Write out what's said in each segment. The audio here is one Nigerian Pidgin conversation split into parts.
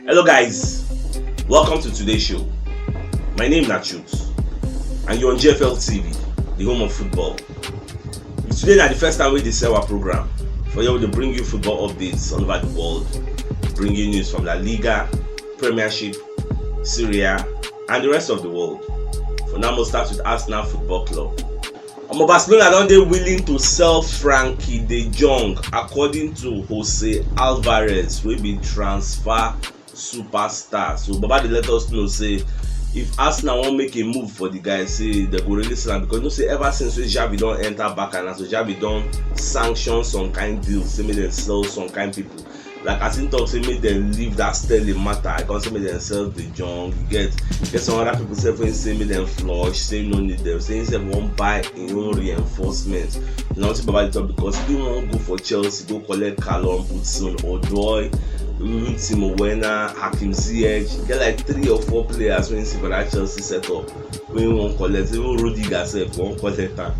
Hello guys, welcome to today's show. My name is Nachut and you're on GFL TV, the home of football. Today na the first time we dey sell our program for here we dey bring you football updates all over the world, bring you news from La Liga, Premiership, Syria and the rest of the world. For now, we'll start with Arsenal Football Club. Omo Barcelona don dey willing to sell Frankie de Jong according to Jose Alvarez wey be transfer superstar. So Baba dey let us know say if Arsenal wan make a move for the guy say dem go really sell am because you know say ever since wey Xavi don enter Barca na so Xavi don sanction some kind deals say make dem sell some kind people like as him talk say make dem leave that sterling matter i come say make dem sell the junk you get get some other people sef wey say make dem flush say no need them say him sef wan buy him own reinforcement you know wetin baba dey talk because he wan go for chelsea go collect callum hudson odoi even timo werner hakim ziyech get like three or four players wey him see for that chelsea setup wey wan collect even road digger sef wan collect am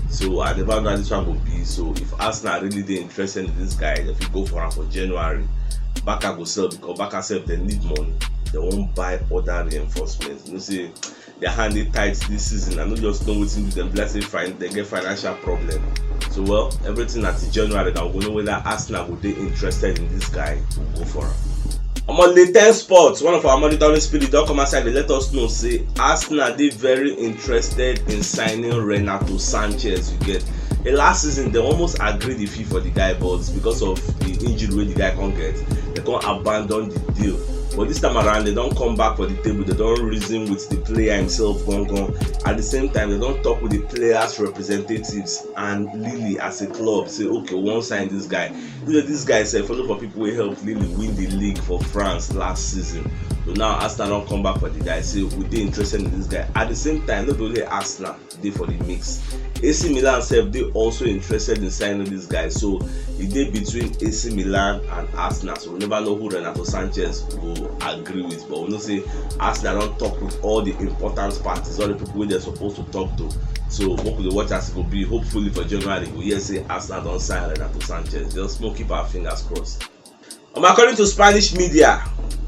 so I never know how this one go be so if Arsenal really dey interested in this guy dem fit go for am for January Barca go sell because Barca sef dem need money dem wan buy other reinforcements you know say their hand dey tight this season I no just know wetin do dem be like say fin dem get financial problem so well everything na till January na we go know whether Arsenal go dey interested in this guy to go for am omo the ten sports one of our monitoring spirit don come outside dey let us know say arsenal dey very interested in signing renato sanchez you get the last season they almost agree the fee for the guy but because of the injury wey the guy come get they come abandon the deal but this time around they don come back for the table they don reason with the player himself gangan at the same time they don talk with the players representatives and lily as a club say okay we wan sign this guy you know this guy sef follow for people wey help lily win the league for france last season so now arsenal don come back for the guy say we dey interested in this guy at the same time no be only arsenal dey for the mix ac milan sef dey also interested in signing this guy so e dey between ac milan and arsenal so We neva know who Renato Sanches go agree wit but we know say Arsenal don tok wit all di important parties, all di pipo wey dem suppose to tok to. So make we dey watch as e go be, hopefully for January we go hear say Arsenal don sign Renato Sanches, just make we keep our fingers crossed. Um according to Spanish media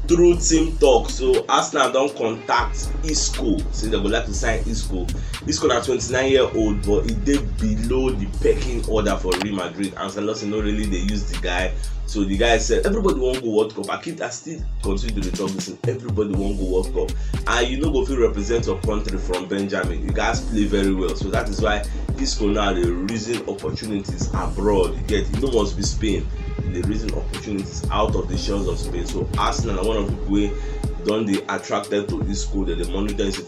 through team tok so Arsenal don contact Isco say dem go like to sign Isco. Isco na twenty nine year old but e dey below di pecking order for Real Madrid, Ancelotti no really dey use di guy so the guy said everybody wan go world cup i keep i still continue to dey talk this thing everybody wan go world cup and you no go fit represent your country from benjamin you gats play very well so that is why isco now dey reason opportunities abroad you get e no must be spain e dey reason opportunities out of the shores of spain so arsenal na one of the people wey don dey attracted to isco dem dey monitor him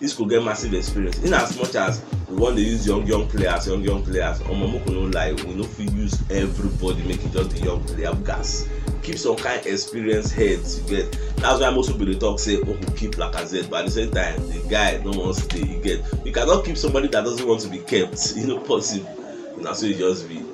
Isco get massive experience in as much as we wan dey use young young players young young players omo make we no lie we no fit use everybody make e just be young player we gats keep some kind experienced heads you get that's why most people dey talk say make we keep Lacazette but at the same time the guy no wan stay you get you cannot keep somebody that doesn't want to be kept e no possible na so e just be.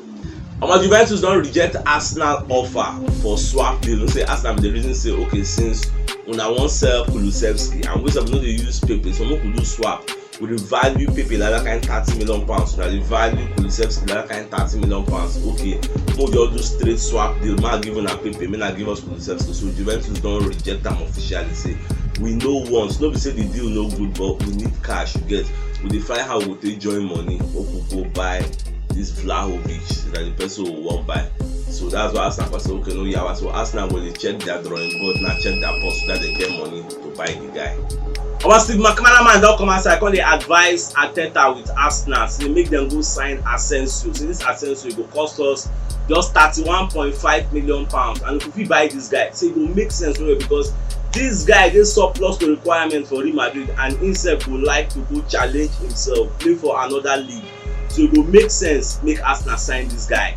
omo juventus don reject arsenal offer for swap deal no say arsenal bin dey reason say okay since una wan sell kulusevski and we sef no dey use pepe so make we do swap we dey value pepe like that kind thirty million pounds una dey value kulusevski like that kind thirty million pounds okay make we just do straight swap deal make i give una pepe make na give us kulusevski so juventus don reject am officially say we no want no be say the deal no good but we need cash you get we dey find how we go take join money make we go buy this Vlahovic that the person will want buy. So that's why Arsenal was okay, no yawa. So Arsenal go dey check their drawing board now, check their post so that they get money to buy the guy. Our Steve McManaman don come outside come dey advise Arteta with Arsenal say make dem go sign Asensio. Say this Asensio go cost us just thirty-one point five million pounds and if we fit buy this guy, say e go make sense well well because this guy dey surplus to requirement for Real Madrid and himself go like to go challenge himself play for another league. So e go make sense make Arsenal sign this guy.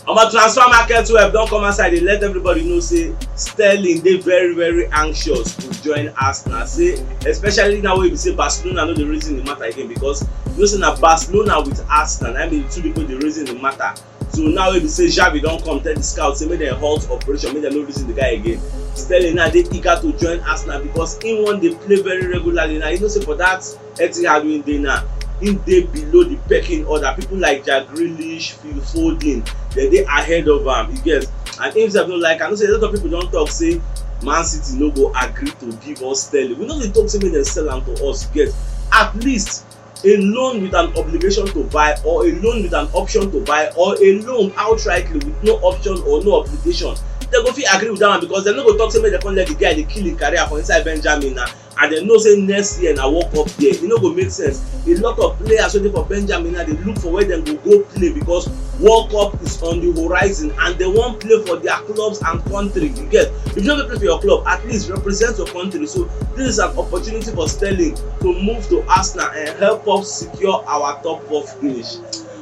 Omo transfer market web don come outside dey let everybody know say Sterling dey very very anxious to join Arsenal say especially now wey be say Barcelona no dey reason the matter again because you know say na Barcelona with Arsenal na be the two people dey reason the matter So now wey be say Xavi don come tell di scouts say make dem halt operation, make dem no reason di guy again, Sterling now dey eager to join Arsenal because im wan dey play very regularly now. You know say for dat Etihad wey im dey now, im dey below di pecking order. Pipo like Jack Grealish, Phil Foden, dem dey ahead of am, you get. And im sef no like am. You know say a lot of pipo don tok say Man City no go agree to give us Sterling. We no dey tok say make dem sell am to us, you get. At least. A loan with an obligation to buy or a loan with an option to buy or a loan outrightly with no option or no obligation dem go fit agree with that one because dem no go talk say make dem come let the guy dey kill him career for inside benjamin na and dem know say next year na world cup year e no go make sense a lot of players wey dey for benjamin na dey look for where dem go go play because world cup is on the horizon and dem wan play for their clubs and country you get if you no go play for your club at least represent your country so this is an opportunity for sterling to move to Arsenal and help us secure our top four finish.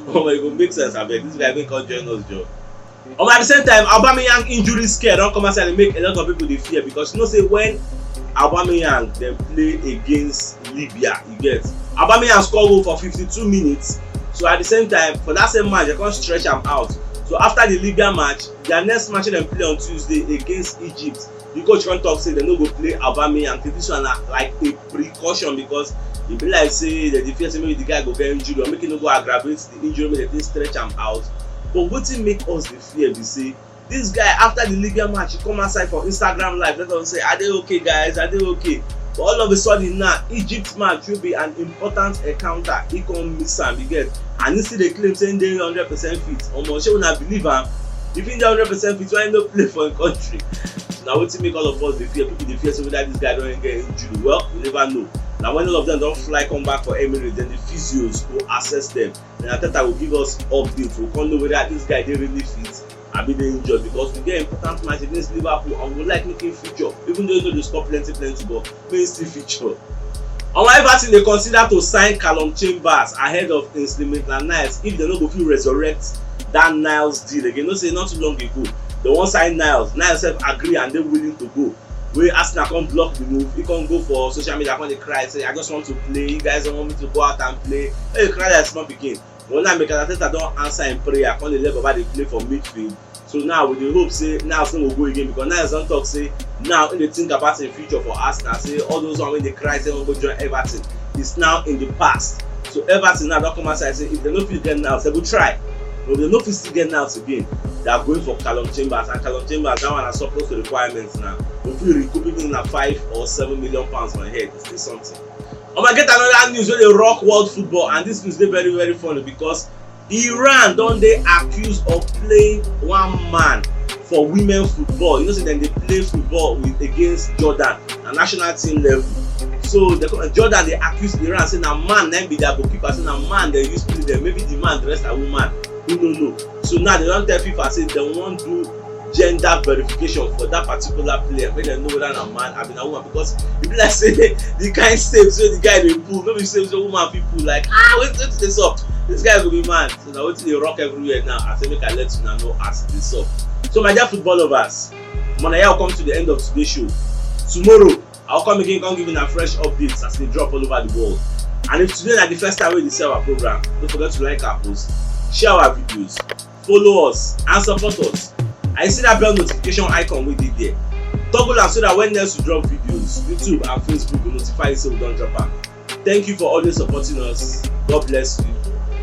Oh my god, make sense abeg. This guy make come join us join. Um, at the same time, Aubameyang injury scare don come outside and make a lot of people dey fear because you know say when Aubameyang dem play against Libya, you get Aubameyang score goal for 52 minutes. So at the same time, for that same match, they come stretch am out. So after the Libya match, their next match dem play on Tuesday against Egypt, the coach come talk say dem no go play Aubameyang and think this one na like a precaution because e be like say dem dey fear say maybe the guy go get injury or make he no go aggravate the injury make dem take stretch am out but wetin make us dey fear be say this guy after the Libya match he come outside for Instagram live let us say I dey okay guys I dey okay but all of a sudden now Egypt match wey be an important encounter he come miss am you get and he still dey claim say he dey hundred percent fit omo shey una believe am Di Vinger wey neva sell fit why e no play for im kontri? Na wetin make all of us dey fear, pipo dey fear say weda dis guy don get injury, well we neva know. Na wen all of dem don fly come back for Emirates den di physios go assess dem, den Arteta go give us update, we go kon know weda dis guy dey really fit abi e dey injured, because we get important match against Liverpool and we go like make im feature, even though im no dey score plenty plenty but. tasty fixture. Omo Everton dey consider to sign Callum Chambers ahead of Ainsley Maitland-Niles if dem no go fit resurrect that Niles deal again. You know say not too long ago, dem wan sign Niles, Niles sef agree and dey willing to go wey Arsenal come block the move, he come go for social media come dey cry say I just want to play, you guys don't want me to go out and play, make you cry like small pikin. Well, now Mikel Arteta don answer im prayer, come dey let Baba dey play for midfield. So now we dey hope say Niles no go go again because Niles don talk say now he dey think about im future for Arsenal. Say all those one wey dey cry say he wan go join Everton is now in the past. So Everton now don come outside say if dem no fit get Niles, dem go try. But if dem no fit still get Niles again, they are going for Callum Chambers and Callum Chambers that one na surplus to requirements now. We fit recoup even na five or seven million pounds for im head, it's still something. Omo, e get another news wey dey rock world football and this news dey very very funny because Iran don dey accused of playing one man for women football. You know say dem dey play football with against Jordan na national team level. So dem come Jordan dey accuse Iran say na man na im be their goalkeeper, say na man dem use play dem. Maybe the man dress as woman, who no know. so now they don tell fifa say they wan do gender verification for that particular player make dem know whether na man abi na woman because e be like say the kind steps wey the guy dey pull no be steps wey woman fit pull like ah wetin wetin dey sup this guy go be man so na wetin dey rock everywhere now i say make i let una know as e dey sup so my dear football lovers mona yao come to the end of today's show tomorrow I will come again come give una fresh updates as e dey drop all over the world. And if today na the first time wey you dey see our program, no forget to like our post, share our videos, follow us and support us. And you see that bell notification icon wey dey there, toggle am so that when next we drop videos, YouTube and Facebook go notify you say we don drop am. Thank you for always supporting us. God bless you.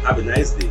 Have a nice day.